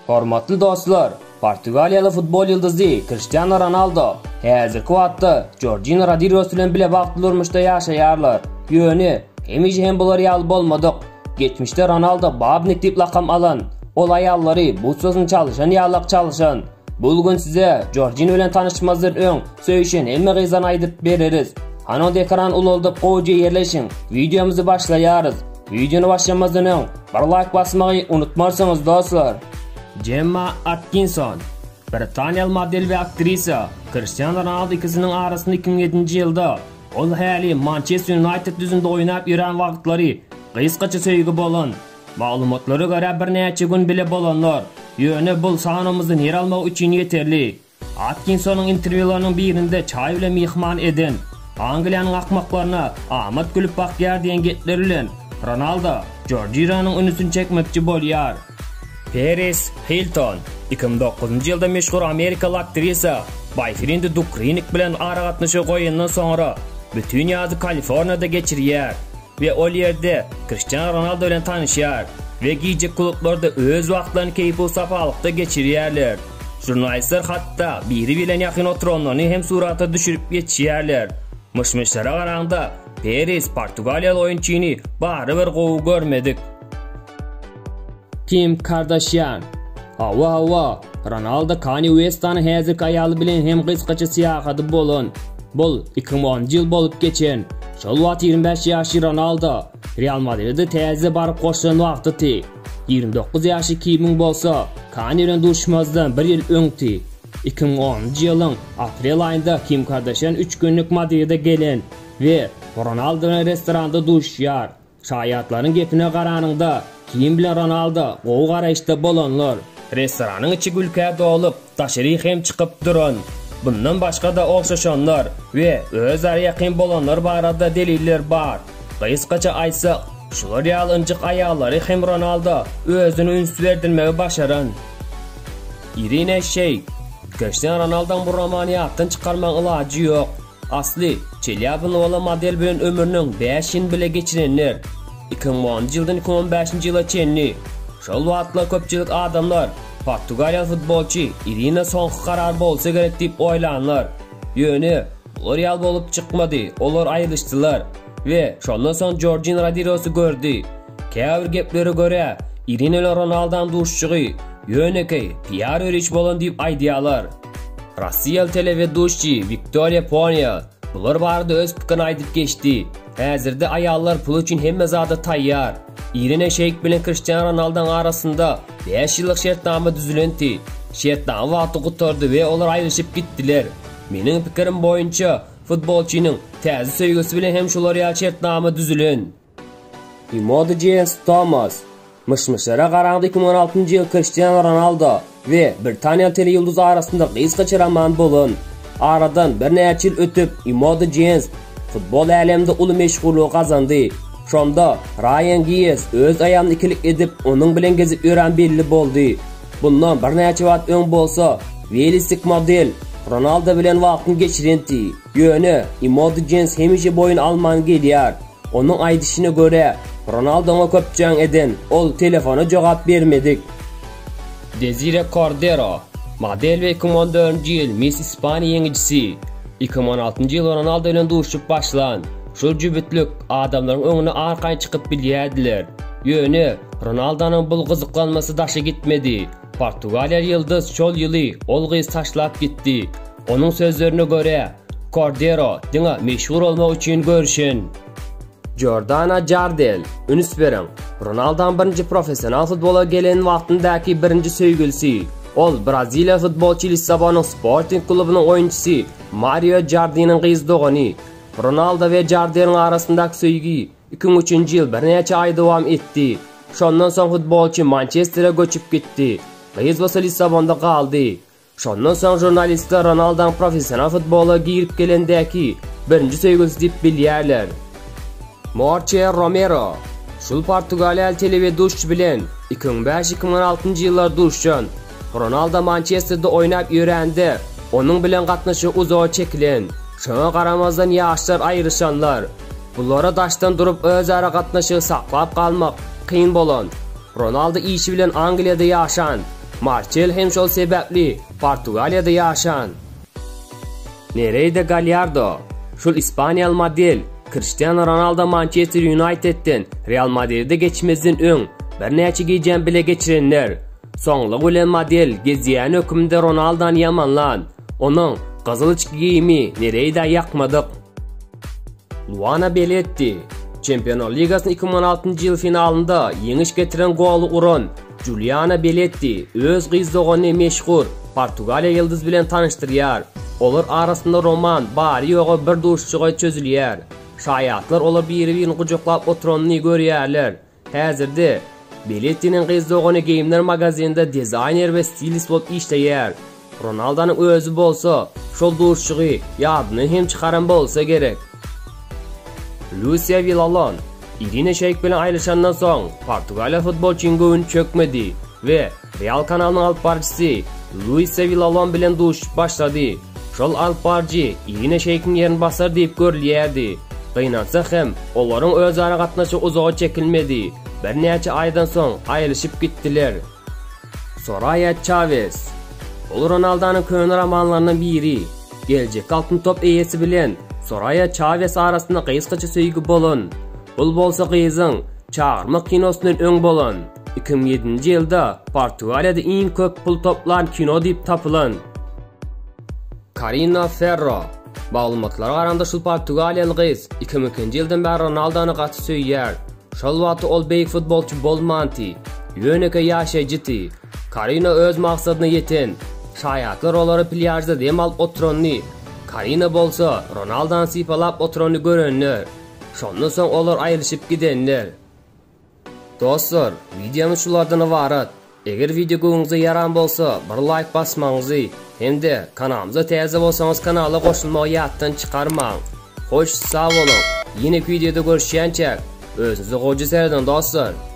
Hormatly dostlar, portugaliýaly futbol ýyldyzy Kriştianu Ronaldo häzirki wagtda Jorjina Rodirios bilen bile bagtly durmuşda ýaşaýarlar. Ýöne, hemişe hem bular ýaly bolmadyk. Geçmişde Ronaldo Babnik diýip lakam alan, ol aýallary butsasyny çalyşan ýalak çalyşan. Bu gün size Jorjina bilen tanyşmazdan öň söýüşen hemme gyzlaryny aýdyp bereris. Hany onda ekrany ulaldyp gowja ýerleşiň, wideomyzy başlaýarys. Wideony başlamazdan öň bir laýk basmagy unutmarsyňyz dostlar. Jemma Atkinson, britaniýaly model we aktrisa, Kristiano Ronaldo ikisiniň arasynda iki müň ýedinji ýylda, ol häli Mançester Ýunaýted düzümde oýnap ýören wagtlary gysgaça söýgi bolan. Maglumatlara görä birnäçe gün bile bolanlar, ýöne bul sanawymyzda ýer almagy üçin ýeterlik. Atkinsonyň interwýularynyň birinde çaý bilen myhman eden, Angliýanyň akmaklaryna amat gülüp bakýar diýen gepleri bilen Ronaldo Jorjinhonyň ünsüni çekmekçi bolýar. Peris Hilton iki müň dokuzynjy ýylda meşhur amerikaly aktrisa Boýfrendi Duk Rinnik bilen aragatnaşygy goýandan soňra bütin ýazy Kaliforniýada geçirýär. we ol ýerde Kriştianu Ronaldo bilen tanyşýar we gije klublarda öz wagtlaryny keýpusapalykda geçirýärler. Žurnalistler hatda biri-birlerine ýakyn oturanlaryny hem surata düşürip ýetişýärler. Myş-myşlara garaňda, Peris portugaliýaly oýunçyny barybir gowy görmedik. Kim Kardashian. Hawa hawa, Ronaldo Kanye Westanyň häzirki aýaly bilen hem gysgaça syýahady bolan. Bul iki müň onunjy ýyl bolup geçen. Şol wagt ýigrimi bäş ýaşly Ronaldo Real Madride täze baryp goşulan wagtydy. Ýigrimi dokuz ýaşly Kimiň bolsa Kanye bilen duşmazdan bir ýyl öňdi. Iki müň onunjy ýylyň aprel aýynda Kim Kardashian üç günlük Madride gelen we Ronaldo bilen restoranda duşýar. Şaýatlaryň gepine garanyňda, Keýn bilen Ronaldo gowy garaýyşda bolanlar. Restoranyň içi gülkä dolup, daşaryk hem çykyp duran, bundan başga-da ogşaşanlar we özara ýakyn bolanlar barada deliller bar. Gysgaça aýtsak, şular ýaly ynjyk aýallary hem Ronaldo özüne üns berdirmegi başaran. Irina Şeýk, Kriştianu Ronaldoň bu romany ýatdan çykarmagyň ilajy ýok. Asly, çelýabyny bolan model bilen ömrüniň bäş ýyny bile geçirenler. Iki müň onunjy ýyldan iki müň on bäşinji ýyla çenli. Şol wagtlar köpçülik adamlar, portugaliýaly futbolçy Irina soňky karar bolsa gerek diýip oýlanlar. Ýöne, bular ýal bolup çykmady, olar aýrylyşdylar we şondan soň Jorjin Rodirosy gördi. Käbir geplere görä, Irina bilen Ronaldan duşuşygy ýönekeý PR-ýörüş bolan diýip aýdýarlar. Rossiýaly teleweduşçi Wiktoriýa Poniýa bular barada öz pikirini aýdyp geçdi. Häzirde aýallar pul üçin hemme zada taýýar. Irina Şeýk bilen Kriştian Ronalduň arasynda bäş ýyllyk şertnama düzülenti. Şertnama wagty gutardy we olar aýrylyşyp gitdiler. Meniň pikirim boýunça, futbolçynyň täze söýgüsi bilen hem şular ýaly şertnama düzülen. Emoji Thomas, Myş-myşlara garaňda iki müň on altynjy ýyl Kriştianu Ronaldo we britaniýaly teleýulduz arasynda gysgaça roman bolan. Aradan birnäçe ýyl ötüp, Emoji Jens futbol äleminde uly meşhurlygy gazandy. Şonda Raýan Gies öz aýalyna ikilik edip, onuň bilen gezip ýören belli boldy. Bundan birnäçe wagt öň bolsa, welisik model Ronaldo bilen wagtyny geçirenti. Ýöne Emoji Jens hemişe boýun alman gelýär. Onuň aýdyşyna görä, Ronaldoňa köp jaň eden ol telefona jogap bermedik. Desire Kordero, Model we iki mü on dördünji ýyl Miss Ispaniýa ýeňijisi. Iki mü on altynjy ýyl Ronaldo bilen duşuşyp başlan şol jübütlik adamlaryň öňüne arkaýyn çykyp bilýärdiler. Ýöne, Ronaldonyň bul gyzyklanmasy daşa gitmedi. Portugaliýaly ýyldyz şol ýyly ol gyzy taşlap gitdi. Onuň sözlerine görä, Kordero diňe meşhur bolmak üçin göreşen. Jordana Jardel, Üns beriň, Ronaldam birinji professional futbola gelen wagtyndaky birinji söýgülisi, ol braziliýaly futbolçy Lissabonyň Sporting klubunyň oýunçysy Mario Jardiniň gyz dogany. Ronaldo we Jardeliň arasyndaky söýgi iki müň üçünji ýyl birnäçe aý dowam etdi. Şondan soň futbolçy Mançestere göçüp gitdi. Gyz bolsa Lissabonda galdy. Şondan soň žurnalistler Ronaldoň professional futbola girip gelendäki birinji söýgüsi diýip bilýärler. Morte Romero Şul portugaliýaly teleweduşçy bilen iki müň bäş, iki müň altynjy ýyllar duşan. Ronaldo Mançesterde oýnap ýörände, onuň bilen gatnaşygy uzaga çekilen. Şoňa garamazdan ýaşlar aýryşanlar. Bulara daşdan durup özara gatnaşygy saklap galmak kyn bolan. Ronaldo işi bilen Angliýada ýaşan. Marçel hem şol sebäpli Portugaliýada ýaşan. Nereida Galýardo, şul ispaniýaly model, Kriştianu Ronaldo Mançester Ýunaýtedden Real Madride geçmezden öň birnäçe gijäni bile geçirenler. Soňlugy bilen model gezýän hökmünde Ronaldony ýamanlan. Onuň gyzyl içki geýimi Nereida ýakmadyk. Luana Beletti, Çempionlar ligasynyň iki müň on altynjy ýyl finalynda ýeňiş getiren goly uran Juliana Beletti öz gyz doganyny meşhur Portugaliýa ýyldyz bilen tanyşdyrýar. Olar arasynda roman bary-ýogy bir duşuşyga çözülýär. Şaýatlar olar biri-birini gujaklap oturanyny görýärler. Häzirde Belettiniň gyz dogany geýimler magazininde dizaýner we stilist bolup işleýär. Ronaldonyň özi bolsa şol duşuşygy ýadyna hem çykaran bolsa gerek. Lusiýa Wilalon, Irina Şeýk bilen aýrylyşandan soň, Portugaliýa futbolçynyň göwni çökmedi we Real kanalynyň alyp baryjysy Luisiýa Wilalon bilen duşuşyp başlady. Şol alyp baryjy Irina Şeýkiň ýerini basar diýip görülýärdi. Gynansak hem, olaryň özara gatnaşygy uzaga çekilmedi. Birnäçe aýdan soň aýrylyşyp gitdiler. Soraýa Çawez, Ol Ronaldanyň köne romanlarynyň biri. Geljekki Altyn top eýesi bilen Soraýa Çawez arasynda gysgaça söýgi bolan. Bul bolsa gyzyň Çagyrmak kinosyndan öň bolan. Iki müň ýedinji ýylda Portugaliýada iň köp pul toplan kino diýip tapylan. Karina Ferro, Maglumatlara garanda şul portugaliýaly gyz iki müň ikinji ýyldan bäri Ronaldony gaty söýýär. Şol wagty ol beýik futbolçy bolmanty, ýönekeý ýaşaýjydy. Karina öz maksadyna ýeten. Şaýatlar olary plýažda dem alyp oturanyny, Karina bolsa Ronaldany sypalap oturanyny görenler. Şondan soň olar aýrylyşyp gidenler. Dostlar, wideomyz şulardan ybarat. Eger wideo göwnüňize ýaran bolsa bir laýk basmagyňyzy hem-de kanalymyza täze bolsaňyz kanala goşulmagy ýatdan çykarmaň. Hoş sag boluň, ýeneki wideoda görüşýänçäk özüňize goja seredin dostlar.